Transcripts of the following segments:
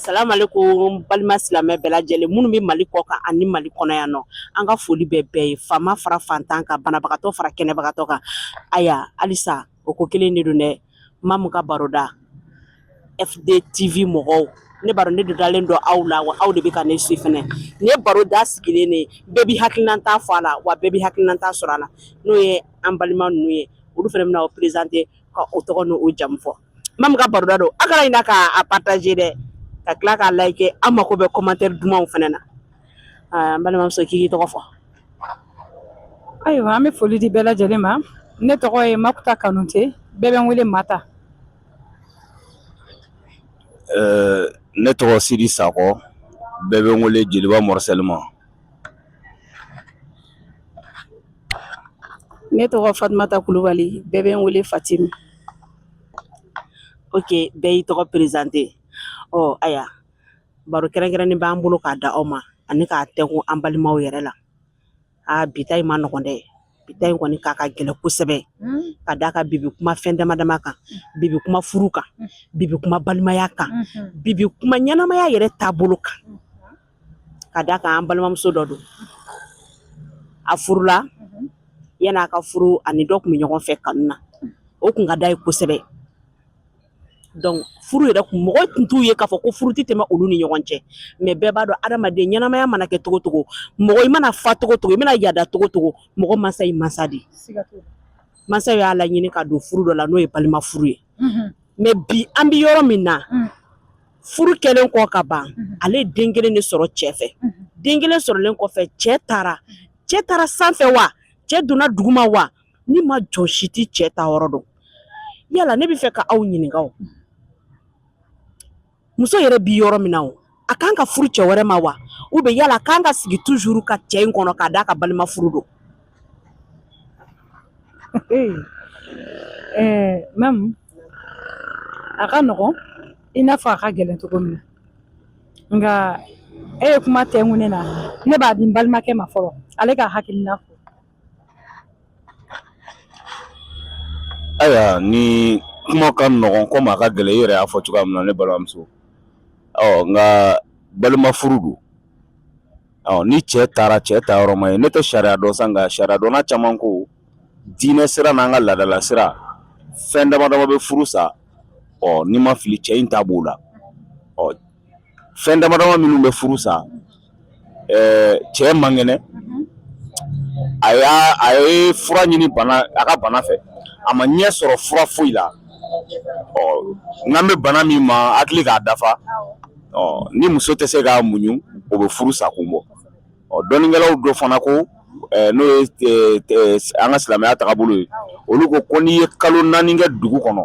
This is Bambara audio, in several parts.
salamu aleykum balima silamɛ bɛɛ lajɛlen minnu bɛ mali kɔ kan ani mali kɔnɔ yan nɔ an ka foli bɛ bɛɛ ye faama fara fantan kan banabagatɔ fara kɛnɛbagatɔ kan ayiwa halisa o ko kelen de don dɛ mamu ka baroda eden tv mɔgɔw ne baro ne dalen don aw la wa aw de bɛ ka ne su fana ne baroda sigilen de bɛɛ b'i hakilinata fɔ a la wa bɛɛ b'i hakilinata sɔrɔ a la n'o ye an balima ninnu ye olu fana bɛna u perezante ka u tɔgɔ n'u jamu fɔ mamu ka baroda don a kana ɲina k'a pataze dɛ ka tila k'a layike an mako bɛ komantɛri dumanw fana na Aa n balimamuso k'i tɔgɔ fɔ ayiwa an bɛ foli di bɛɛ lajɛlen ma ne tɔgɔ ye makuta kanute bɛɛ bɛ n wele mata ne tɔgɔ sidi sakɔ bɛɛ bɛ n wele jeliba mɔsali ma ne tɔgɔ fatumata kulubali bɛɛ bɛ n wele fatim oke bɛɛ y'i tɔgɔ perezante ɔ ayiwa baro kɛrɛnkɛrɛnnen b'an bolo k'a da aw ma ani k'a tɛngu an balimaw yɛrɛ la aa bi ta in ma nɔgɔ dɛ bi ta in kɔni k'a ka gɛlɛn kosɛbɛ ka d'a kan bi bɛ kuma fɛn dama dama kan bi bɛ kuma furu kan bi bɛ kuma balimaya kan bi bɛ kuma ɲɛnamaya yɛrɛ taabolo kan ka d'a kan an balimamuso dɔ don a furula yanni a ka furu a ni dɔ tun bɛ ɲɔgɔn fɛ kanu na o tun ka di a ye kosɛbɛ donc furu yɛrɛ kun mɔgɔ tun t'u ye k'a fɔ ko furu tɛ tɛmɛ olu ni ɲɔgɔn cɛ mais bɛɛ b'a dɔn adamaden ɲɛnamaya mana kɛ cogo cogo mɔgɔ i mana fa cogo cogo i mana yada cogo cogo mɔgɔ mansa ye mansa de ye mansa y'a laɲini k'a don furu dɔ la n'o ye balima furu ye mais bi an bɛ yɔrɔ min na furu kɛlen kɔ ka ban ale ye den kelen de sɔrɔ cɛ fɛ den kelen sɔrɔlen kɔfɛ cɛ taara cɛ taara sanfɛ wa cɛ donna duguma wa ni ma jɔn si tɛ cɛ taayɔrɔ dɔn yala ne bɛ fɛ ka aw ɲininka o muso yɛrɛ bɛ yɔrɔ min na o a kan ka furu cɛ wɛrɛ ma wa ou bien yala a kan ka sigi tuzuru ka cɛ in kɔnɔ ka d'a kan balima furu don mamu a ka nɔgɔn i n'a fɔ a ka gɛlɛn cogo min na nka e ye kuma tɛngu ne na ne b'a di n balimakɛ ma fɔlɔ ale k'a hakilina fɔ Ayiwa nin kuma ka nɔgɔn komi a ka gɛlɛn i yɛrɛ y'a fɔ cogoya min na ne balimamuso ɔ nka balima furu don ɔ ni cɛ taara cɛ taayɔrɔ ma ye ne tɛ sariya dɔn sa nka sariyadɔnna caman ko diinɛ sira n'an ka laadala sira fɛn dama dama bɛ furu sa ɔ n'i ma fili cɛ in ta b'o la ɔ fɛn dama dama minnu bɛ furu sa eh, cɛ man kɛnɛ a y'a a ye fura ɲini bana a ka bana fɛ a ma ɲɛ sɔrɔ fura foyi la ɔ n kan bɛ bana min ma hakili k'a dafa ɔ ni muso tɛ se k'a muɲu o bɛ furu sa kun bɔ ɔ dɔnnikɛlaw dɔ fana ko eh, n'o ye eh, eh, an ka silamɛya tagabolo ye olu ko ko n'i ye kalo naani kɛ dugu kɔnɔ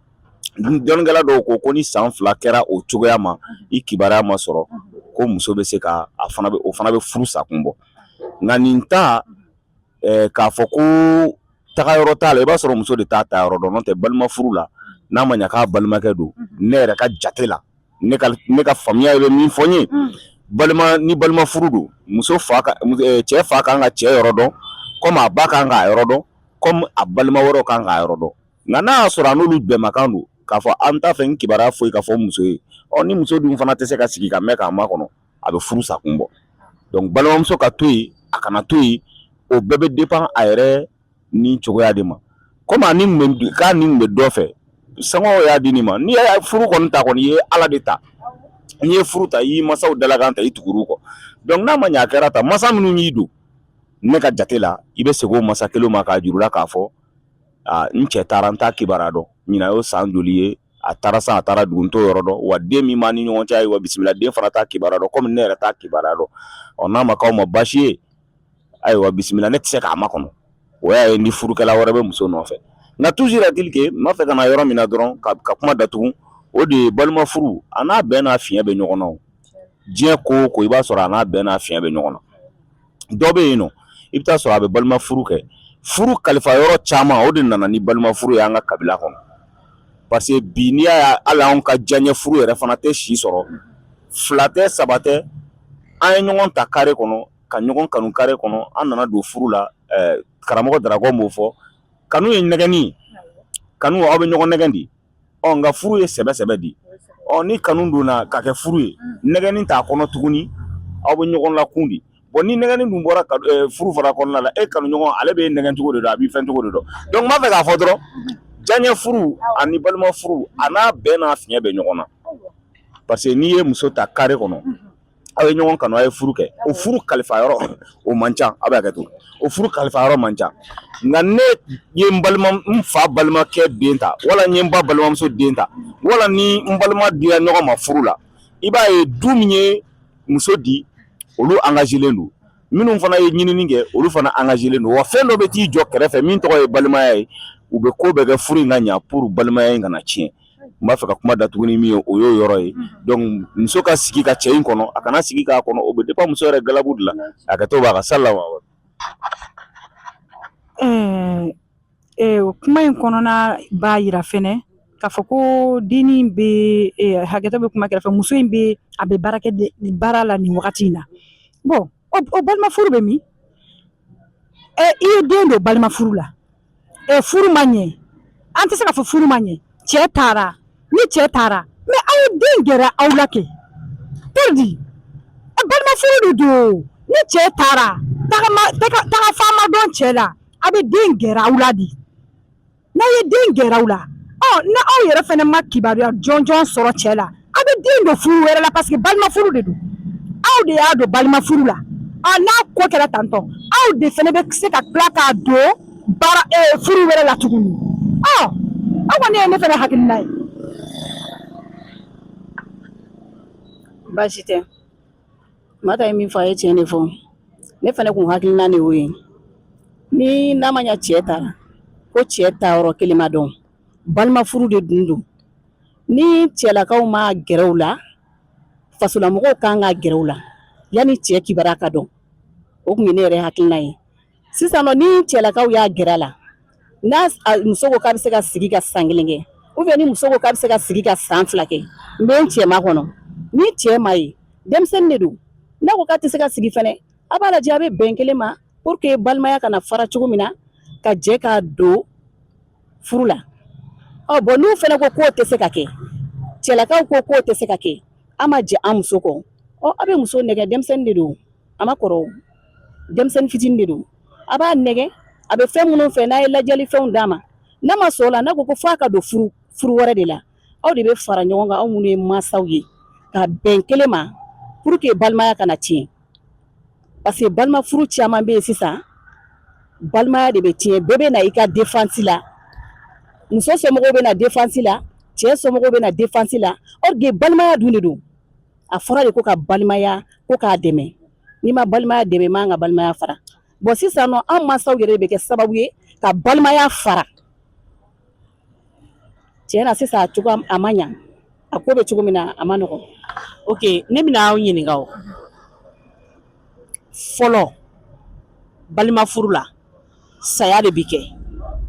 dɔnnikɛla dɔw ko ko ni san fila kɛra o cogoya ma i kibaruya ma sɔrɔ ko muso bɛ se ka a fana bɛ o fana bɛ furu sakun bɔ nka nin ta eh, k'a fɔ ko taga yɔrɔ t'a la i b'a sɔrɔ muso de t'a taa yɔrɔ dɔn n'o tɛ balima furu la n'a ma ɲa k'a balimakɛ don ne yɛrɛ ka jate la ne ka ne ka faamuya bɛ min fɔ n ye balima ni balima furu don muso fa ka mus- eh, cɛ fa kan ka cɛ yɔrɔ dɔn komi a ba kan k'a yɔrɔ dɔn komi a balima wɛrɛw kan k'a yɔrɔ dɔn Nka n'a y'a sɔrɔ a n'olu bɛnmakan don k'a fɔ an t'a fɛ nin kibaruya foyi ka fɔ muso ye, ɔ ni muso dun fana tɛ se ka sigi ka mɛn k'a makɔnɔ, a bɛ furu sa kun bɔ. Donc balimamuso ka to yen, a kana to yen, o bɛɛ bɛ dépend a yɛrɛ ni cogoya de ma. Comme a ni kun bɛ k'a ni kun bɛ dɔ fɛ, somɔgɔw y'a di nin ma, n'i ye furu kɔni ta kɔni, i ye Ala de ta, n'i ye furu ta, i y'i mansaw dalakan ta, i tugur'u kɔ. Donc n'a ma ɲɛ a kɛra tan, mansa minnu y'i don ne ka jate la, i bɛ segin o mansa kelenw ma k'a jir'u la k'a fɔ n cɛ taara n t'a kibaruya dɔn nin y'o san joli ye a taara san a taara dugu n t'o yɔrɔ dɔn wa den min ni ɲɔgɔn cɛ ye wa bisimila den fana t'a kibaruya dɔn kɔmi ne yɛrɛ t'a kibaruya dɔn ɔ n'a ma kɛ baasi ye ayiwa bisimila ne tɛ se k'a makɔnɔ o y'a ye ni furukɛla wɛrɛ bɛ muso nɔfɛ nka tuusi dike n fɛ ka yɔrɔ min dɔrɔn ka ka kuma datugu o de ye balima furu a n'a bɛn n'a fiɲɛ bɛ ɲɔgɔn na diɲɛ ko o ko i b'a sɔrɔ a n'a bɛn n'a fiɲɛ bɛ ɲɔgɔn na dɔ bɛ yen nɔ i bɛ t'a sɔrɔ a bɛ balima furu kɛ furu kalifa yɔrɔ caman o de nana ni balima furu ye an ka kabila kɔnɔ parce que bi n'i y'a ye hali anw ka diyaɲɛ furu yɛrɛ fana tɛ si sɔrɔ fila tɛ saba tɛ an ye ɲɔgɔn ta kare kɔnɔ ka ɲɔgɔn kanu kare kɔnɔ an nana don furu la karamɔgɔ darabɔ b'o fɔ kanu ye nɛgɛnni kanu aw bɛ ɲɔgɔn nɛgɛn de ɔ nka furu ye sɛbɛ sɛbɛ de ɔ ni kanu donna ka kɛ furu ye nɛgɛnni t'a kɔnɔ tuguni aw bɛ ɲɔgɔn lakun de bon ni nɛgɛnni dun bɔra furu fara kɔnɔna la e kanu ɲɔgɔn ale bɛ nɛgɛn cogo de dɔn a b'i fɛn cogo de dɔn donc n b'a fɛ k'a fɔ dɔrɔn diyaɲɛ furu ani balima furu a n'a bɛɛ n'a fiɲɛ bɛ ɲɔgɔn na parce que n'i ye muso ta kare kɔnɔ aw ye ɲɔgɔn kanu aw ye furu kɛ o furu kalifa yɔrɔ o man ca aw bɛ hakɛ to o furu kalifa yɔrɔ man ca nka ne ye n balima n fa balimakɛ den ta wala n ye n ba balimamuso den ta wala ni n balima dira ɲɔgɔn ma furu la i b'a ye du min ye muso di olu angazelen don minnu fana ye ɲinini kɛ olu fana angazelen don wa fɛn dɔ bɛ t'i jɔ kɛrɛfɛ min tɔgɔ ye balimaya ye u bɛ ko bɛɛ kɛ furu in ka ɲa pour balimaya in kana tiɲɛ n b'a fɛ ka kuma datugu ni min ye o y'o yɔrɔ ye dɔnku muso ka sigi ka cɛ in kɔnɔ a kana sigi k'a kɔnɔ o bɛ dépend muso yɛrɛ galabu de la hakɛto b'a ka sa la wa kuma in kɔnɔna b'a jira fana ka fɔ ko dennin bɛ hakɛto bɛ kuma kɛrɛfɛ muso in bɛ a bɛ baara baara la nin wagati in na bɔn o balima furu bɛ min i ye den don balima furu la ɛ furu ma ɲɛ an tɛ se ka fɔ furu ma ɲɛ cɛ taara ni cɛ taara mɛ aw ye den gɛrɛ aw la kɛ pɛridi balima furu de don ni cɛ taara tagama taga fan ma dɔn cɛ la aw bɛ den gɛrɛ aw la de n'aw ye den gɛrɛ aw la ɔ na aw yɛrɛ fana ma kibaruya jɔnjɔn sɔrɔ cɛ la aw bɛ den don furu wɛrɛ la parce que balima furu de don aw de y'a don balima furu la a n'a ko kɛra tantɔ aw de fana bɛ se ka tila k'a don baara eh, furu wɛrɛ la tuguni ɔ a kɔni ye ne fana hakilina ye baasi tɛ mata ye min fɔ a ye tiɲɛ de fɔ ne fana kun hakilina de y'o ye ni n'a ma ɲa cɛ taara ko cɛ taayɔrɔ kelen ma dɔn balima furu de dun don ni cɛlakaw m'a gɛrɛ u la fasolamɔgɔw kan k'a gɛrɛ u la yanni cɛ kibaru ka dɔn o tun ye ne yɛrɛ hakilina ye sisan ni cɛlakaw y'a gɛrɛ u la ni muso ko k'a bɛ se ka sigi ka san kelen kɛ u bɛ ni muso ko k'a bɛ se ka sigi ka san fila kɛ n bɛ n cɛ makɔnɔ ni cɛ ma ye denmisɛnnin de don n'a ko k'a tɛ se ka sigi fana a b'a lajɛ a bɛ bɛn kelen ma pour que balimaya kana fara cogo min na ka jɛ k'a don furu la ɔ bɔn n'u fana ko k'o tɛ se ka kɛ cɛlakaw ko k'o tɛ se ka kɛ an ma jɛn an muso kɔ ɔ aw bɛ muso nɛgɛn denmisɛnnin de don a ma kɔrɔ denmisɛnnin fitinin de don aw b'a nɛgɛn a bɛ fɛn minnu fɛ n'aw ye ladiyali fɛnw d'a ma n'a ma sɔn o la n'a ko ko f'a ka don furu furu wɛrɛ de la aw de bɛ fara ɲɔgɔn kan aw minnu ye mansaw ye ka bɛn kelen ma pour que balimaya kana tiɲɛ parce que balima furu caman bɛ yen sisan balimaya de bɛ tiɲɛ bɛɛ bɛ na i ka défense la muso somɔgɔw bɛ na défense la cɛ somɔgɔw bɛ na défense la or que balimaya dun de don a fɔra de ko ka balimaya ko k'a dɛmɛ n'i ma balimaya dɛmɛ i man ka balimaya fara bɔn sisan nɔ an mansaw yɛrɛ de bɛ kɛ sababu ye ka balimaya fara tiɲɛ na sisan cogo a ma ɲɛ a ko bɛ cogo min na a man nɔgɔ ok ne bɛna aw ɲininka fɔlɔ balima furu la saya de bɛ kɛ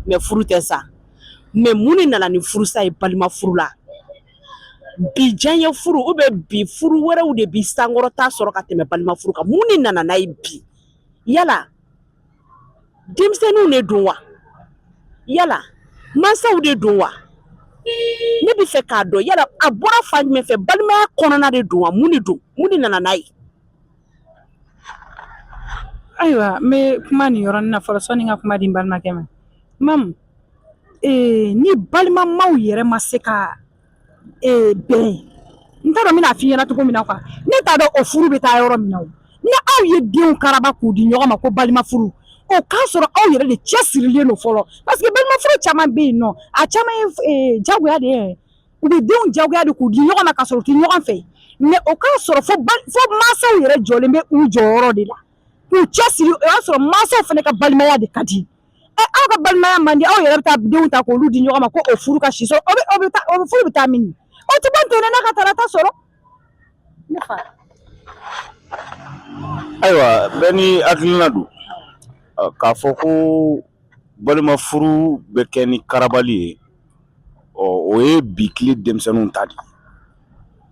mɛ furu tɛ sa mɛ mun de nana ni furusa ye balima furu la bi diyanye furuw bɛ bi furu wɛrɛw de bɛ sankɔrɔta sɔrɔ ka tɛmɛ balima furu kan mun de nana n'a ye bi yala denmisɛnninw de don wa yala mansaw de don wa ne b'a fɛ k'a dɔn yala a bɔra fan jumɛn fɛ balimaya kɔnɔna de don wa mun de don mun de nana n'a ye ayiwa n bɛ kuma nin yɔrɔnin na fɔlɔ sɔnni n ka kuma di n balimakɛ ma mamu ee ni balimamaw yɛrɛ ma se ka bɛn n t'a dɔn min fi ɲɛna cogo min na kuwa ne t'a dɔn o furu bɛ taa yɔrɔ min na ni aw ye denw karaba k'u di ɲɔgɔn ma ko balima furu o k'a sɔrɔ aw yɛrɛ de cɛsirilen don fɔlɔ parce que balima furu caman bɛ yen nɔ a caman ye jagoya de ye u bɛ denw jagoya de k'u di ɲɔgɔn ma ka sɔrɔ u tɛ ɲɔgɔn fɛ mais o k'a sɔrɔ fo mansaw yɛrɛ jɔlen bɛ u jɔyɔrɔ de la k'u cɛsiri o y'a sɔrɔ mansaw fana ka balimaya de ka di aw ka balimaya man di aw yɛrɛ bɛ taa denw ta k'olu di ɲɔgɔn ma ko o furu ka si sɔrɔ o bɛ o bɛ taa o bɛ furu bɛ taa min o tɛ bɔ ntɛnɛn na ka tarata sɔrɔ ne fɛ ayiwa bɛɛ n'i hakilina don Ɔ, k'a fɔ ko balima furu bɛ kɛ ni karabali ye ɔ o ye bi tile denmisɛnninw ta de ye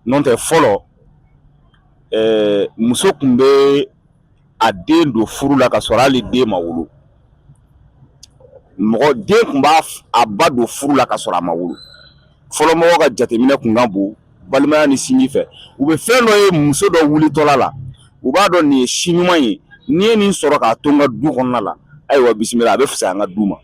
n'o tɛ fɔlɔ ɛɛ muso tun bɛ a den don furu la ka sɔrɔ hali den ma wolo mɔgɔ den tun b'a a ba don furu la ka sɔrɔ a ma wolo fɔlɔ mɔgɔ ka jateminɛ tun ka bon balimaya ni sinji fɛ u bɛ fɛn dɔ ye muso dɔ wulitɔla la u b'a dɔn nin ye si ɲuman ye n'i ye nin sɔrɔ k'a to an ka du kɔnɔna la ayiwa bisimila a bɛ fisaya an ka du ma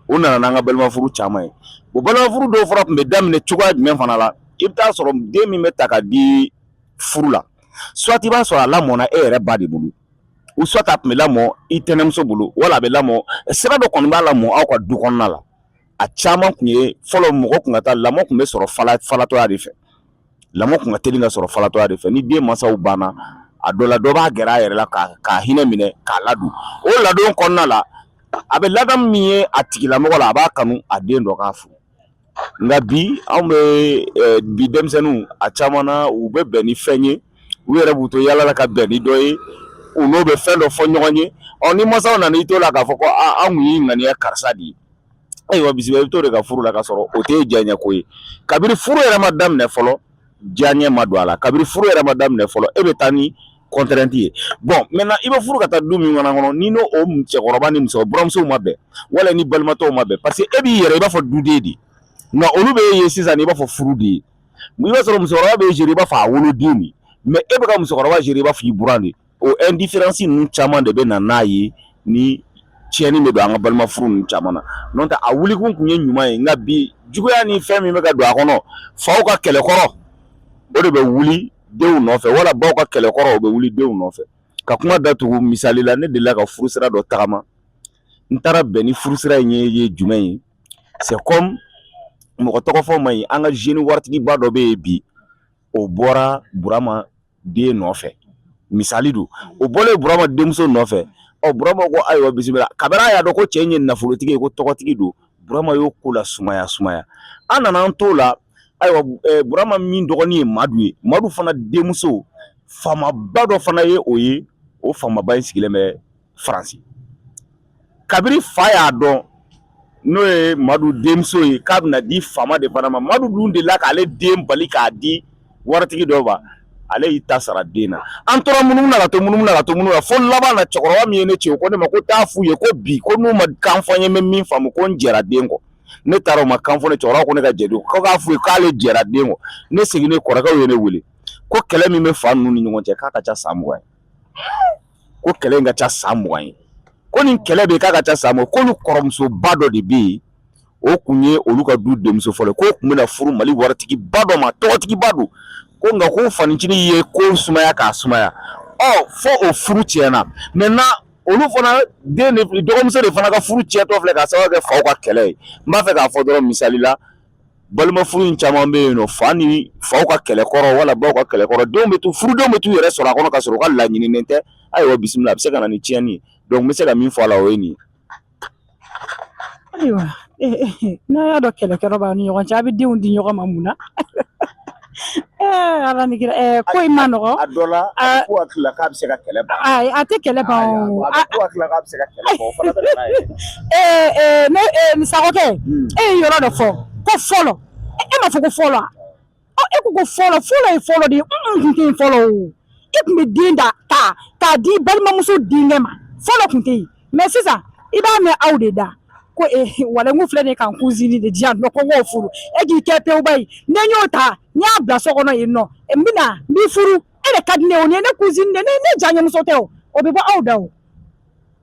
o nana n'an ka balimafuru caman ye o balimafuru dɔw fana tun bɛ daminɛ cogoya jumɛn fana la i bɛ taa sɔrɔ den min bɛ ta ka di furu la soit i b'a sɔrɔ a lamɔna e yɛrɛ ba de bolo ou soit a tun bɛ lamɔ i tɛnɛmuso bolo wala a bɛ lamɔ sira dɔ kɔni b'a lamɔ aw ka du kɔnɔna la a caman tun ye fɔlɔ mɔgɔ tun ka taa lamɔ tun bɛ sɔrɔ fala falatɔya de fɛ lamɔ tun ka teli ka sɔrɔ falatɔya de fɛ ni den mansaw banna a dɔ la dɔ b'a gɛrɛ a yɛrɛ la k'a k'a hinɛ minɛ k'a ladon o ladon kɔnɔna la a bɛ ladamu min ye a tigilamɔgɔ la a b'a kanu a den dɔ k'a furu nka bi anw bɛ bi denmisɛnninw a caman na u bɛ bɛn ni fɛn ye u yɛrɛ b'u to yaala la ka bɛn ni dɔ ye u n'o bɛ fɛn dɔ fɔ ɲɔgɔn ye ɔ ni masaw nana i to la k'a fɔ ko an tun y'i ŋaniya karisa de ye ayiwa bisimila i bɛ t'o de ka furu la ka sɔrɔ o tɛ e diyaɲɛ ko ye kabini furu yɛrɛ ma daminɛ fɔlɔ diyaɲɛ ma don a la kabini furu yɛrɛ ma daminɛ fɔlɔ e bɛ taa ni contrainte ye bon maintenant i bɛ furu ka taa du min fana kɔnɔ n'i n'o o cɛkɔrɔba ni musokɔrɔba buranmusow ma bɛn wala ni balima tɔw ma bɛn paseke e b'i yɛrɛ i b'a fɔ duden de nka olu b'e ye sisan i b'a fɔ furu de ye i b'a sɔrɔ musokɔrɔba b'e gérer i b'a fɔ a woloden de mais e bɛ ka musokɔrɔba gérer i b'a fɔ i buran de O indifférence ninnu caman de bɛ na n'a ye ni tiɲɛni bɛ don an ka balima furu ninnu caman na n'o tɛ a wulikun tun ye ɲuman ye nka bi juguya ni fɛn min bɛ ka don a kɔnɔ faw ka kɛlɛkɔrɔ o de bɛ wuli denw nɔfɛ wala baw ka kɛlɛkɔrɔ o bɛ wuli denw nɔfɛ ka kuma datugu misali la ne delila ka furusira dɔ tagama n taara bɛn ni furusira in ye ye jumɛn ye c'est comme mɔgɔ tɔgɔ fɔ man ɲi an ka jeune waritigiba dɔ bɛ yen bi o bɔra Burama den nɔfɛ misali don o bɔlen burama denmuso nɔfɛ ɔ burama ko ayiwa bisimila kabini a y'a dɔn ko cɛ ye nafolotigi ye ko tɔgɔtigi don burama y'o ko lasumaya sumaya an nana an t'o la ayiwa burama min dɔgɔnin ye madu ye madu fana denmuso faamaba dɔ fana ye o ye o faamaba in sigilen bɛ faransi kabiri fa y'a dɔn n'o ye madu denmuso ye k'a bɛna di faama de fana ma madu dun delila k'ale den bali k'a di waritigi dɔ ma ale y'i ta sara den na an tora munumunu na ka to munumunu na ka to munumunu na fo laban na cɛkɔrɔba min ye ne ci o ko ne ma ko taa f'u ye ko bi ko n'u ma kan fɔ n ye n bɛ min faamu ko n jɛra den kɔ ne taara o ma kan fɔ ne cɛkɔrɔba ko ne ka jɛ don ko k'a f'u ye k'ale jɛra den kɔ ne seginnen kɔrɔkɛw ye ne wele ko kɛlɛ min bɛ fa ninnu ni ɲɔgɔn cɛ k'a ka ca san mugan ye ko kɛlɛ in ka ca san mugan ye ko nin kɛlɛ bɛ k'a ka ca san mugan k'olu kɔrɔmusoba dɔ de bɛ yen o tun ye olu ka du denmuso fɔlɔ k'o tun bɛna furu mali waritigiba dɔ ma tɔgɔtigiba don ko nka ko fanicinin ye ko sumaya k'a sumaya ɔ fo o furu tiɲɛna maintenant olu fana den dɔgɔmuso de fana ka furu tiɲɛtɔ filɛ k'a sababu kɛ faw ka kɛlɛ ye n b'a fɛ k'a fɔ dɔrɔn misali la balima furu in caman bɛ yen nɔ fa ni faw ka kɛlɛkɔrɔ wala baw ka kɛlɛkɔrɔ denw bɛ to furudenw bɛ t'u yɛrɛ sɔrɔ a kɔnɔ ka sɔrɔ u ka laɲininen tɛ ayiwa bisimila a bɛ se ka na ni tiɲɛni ye donc n bɛ se ka min fɔ a la o ye nin ye ayiwa n'a y'a dɔn kɛlɛkɔrɔ b'a ni ɲɔgɔn cɛ a bɛ denw di ɲɔgɔn ma mun na Ala ko i ma nɔgɔ a dɔ la ko tila k'a bɛ se ka kɛlɛ a tɛ kɛlɛ ne musa e ye yɔrɔ dɔ fɔ ko fɔlɔ e ma fɔ ko fɔlɔ e ko ko fɔlɔ fɔlɔ ye fɔlɔ de ye fɔlɔ e tun bɛ den ta k'a di balimamuso denkɛ ma fɔlɔ tun tɛ yen mais sisan i b'a mɛn aw de da ko eh, walanku filɛ de kan cousine de diya nɔ ko n k'o furu e k'i kɛ pewuba ye ne y'o ta n y'a bila so kɔnɔ yen nɔ n bɛna n b'i furu e de ka di ne o ni ye ne cousine de ne ne janyemuso tɛ o o bɛ bɔ aw da o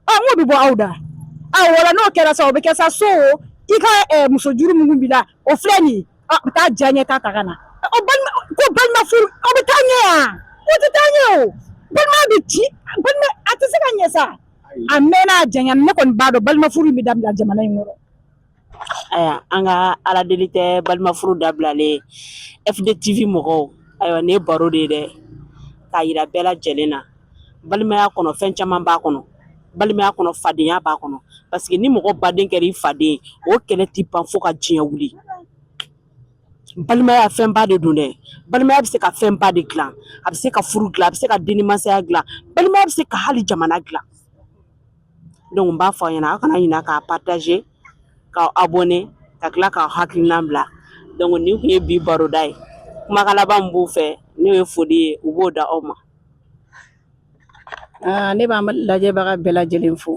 ɔ n k'o bɛ bɔ aw da a wala n'o kɛra sa o bɛ kɛ sa so o i ka eh, muso juru minnu b'i la o filɛ nin ye a bɛ taa diya ɲɛ ta ta ka na o balima ko balima furu o bɛ taa ɲɛ yan o tɛ taa ɲɛ o balima bɛ ci balima a tɛ se ka ɲɛ sa a mɛnna a janyana ne kɔni b'a dɔn balima furu bɛ dabila jamana in kɔnɔ ayiwa an ka ala deli tɛ balima furu dabilali ye fdtv mɔgɔw ayiwa nin ye baro de ye dɛ k'a yira bɛɛ lajɛlen na balimaya kɔnɔ fɛn caman b'a kɔnɔ balimaya kɔnɔ fadenya b'a kɔnɔ parce que ni mɔgɔ baden kɛra i faden o kɛlɛ tɛ ban fo ka diɲɛ wuli balimaya fɛnba de don dɛ balimaya bɛ se ka fɛnba de dilan a bɛ se ka furu dilan a bɛ se ka denmasaya dilan balimaya bɛ se ka hali jamana dilan donc n b'a fɔ aw ye aw kana ɲinɛ k'a partager ka abonné ka tila k'aw hakilinan bila donc nin tun ye bi baroda ye kumakan laban min b'u fɛ n'o ye foli ye u b'o da aw ma aa ne b'an lajɛbaga bɛɛ lajɛlen fo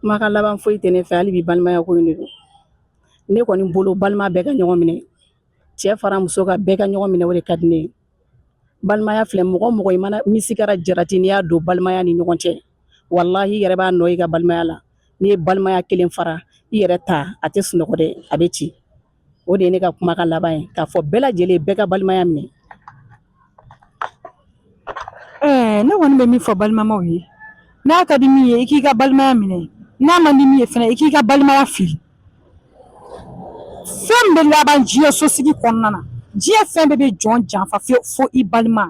kumakan laban foyi tɛ ne fɛ hali bi balimaya ko in de don ne kɔni bolo balima bɛɛ ka ɲɔgɔn minɛ cɛ fara muso kan bɛɛ ka ɲɔgɔn minɛ o de ka di ni balimaya fili ye mɔgɔ o mɔgɔ i mana misi kɛra jarati n'i y'a don balimaya ni ɲɔgɔn cɛ walahi i yɛrɛ b'a nɔ i ka balimaya la n'i ye balimaya kelen fara i yɛrɛ ta a tɛ sunɔgɔ dɛ a bɛ ci o de ye ne ka kumakan laban ye k'a fɔ bɛɛ lajɛlen bɛɛ ka balimaya minɛ Ɛɛ ne kɔni bɛ min fɔ balimamaw ye n'a ka di min ye i k'i ka balimaya minɛ n'a man di min ye fana i k'i ka balimaya fili fɛn min bɛ laban diɲɛ sosigi kɔnɔna na diɲɛ fɛn bɛɛ bɛ jɔn janfa fo fo i balima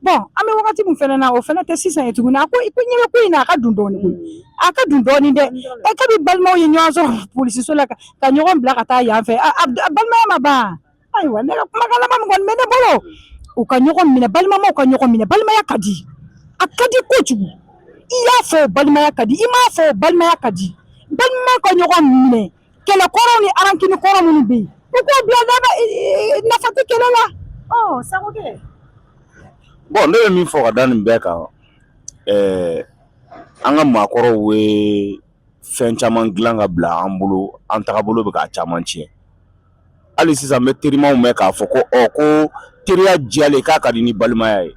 bon an bɛ wagati min fana na o fana tɛ sisan ye tuguni a ko i ko ɲɛ bɛ ko in na a ka dun dɔɔnin koyi a ka dun dɔɔnin dɛ ɛ kabi balimaw ye ɲɔgɔn sɔrɔ polisiso la ka ka ɲɔgɔn bila ka taa yan fɛ a a a balimaya ma ban ayiwa ne ka kumakan laban min kɔni bɛ ne bolo u ka ɲɔgɔn minɛ balimamaw ka ɲɔgɔn minɛ balimaya ka di a ka di kojugu i y'a fɔ o balimaya ka di i m'a fɔ o balimaya ka di balimamaw ka ɲɔgɔn minɛ kɛlɛ kɔrɔw ni rancune kɔrɔ minnu bɛ yen u k'o bila daba nafa tɛ kɛlɛ la ɔ sago kɛ bɔn ne bɛ min fɔ ka da nin bɛɛ kan ɛɛ an ka maakɔrɔw ye fɛn caman dilan ka bila an bolo an tagabolo bɛ k'a caman tiɲɛ hali sisan n bɛ terimaw mɛn k'a fɔ ko ɔ ko teriya diyalen k'a ka di ni balimaya ye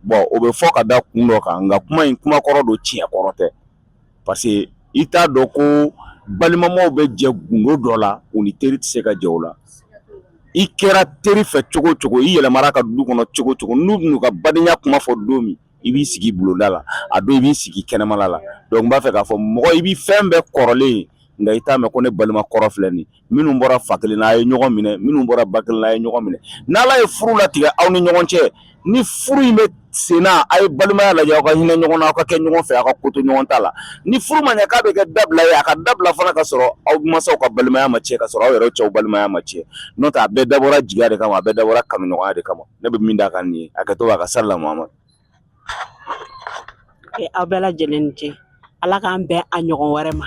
bɔn o bɛ fɔ ka da kun dɔ kan nka kuma in kuma kɔrɔ don tiɲɛ kɔrɔ tɛ parce que i t'a dɔn ko balimamaw bɛ jɛ gundo dɔ la u ni teri tɛ se ka jɛ o la i kɛra teri fɛ cogo cogo i yɛlɛmana u ka du kɔnɔ cogo cogo n'u n'u ka badenya kuma fɔ don min i b'i sigi bulonda la a don i b'i sigi kɛnɛmala la donc n b'a fɛ k'a fɔ mɔgɔ i bɛ fɛn bɛɛ kɔrɔ mɛn nka i t'a mɛn ko ne balima kɔrɔ filɛ nin minnu bɔra fa kelen na a ye ɲɔgɔn minɛ minnu bɔra ba kelen na a ye ɲɔgɔn minɛ n'ala ye furu latigɛ aw ni ɲɔgɔn cɛ ni furu in bɛ sen na a ye balimaya lajɛ aw ka hinɛ ɲɔgɔn na aw ka kɛ ɲɔgɔn fɛ aw ka koto ɲɔgɔn ta la ni furu ma ɲɛ k'a bɛ kɛ dabila ye a ka dabila fana ka sɔrɔ aw mansaw ka balimaya ma tiɲɛ ka sɔrɔ aw yɛrɛ cɛ balimaya ma tiɲɛ n'o tɛ a bɛɛ dabɔra jigiya de kama a bɛɛ dabɔra kanuɲɔgɔnya de kama ne bɛ min da kan nin ye a ka to a ka sala muhamadu aw bɛɛ lajɛlen ni ce ala k'an bɛn a ɲɔgɔn wɛrɛ ma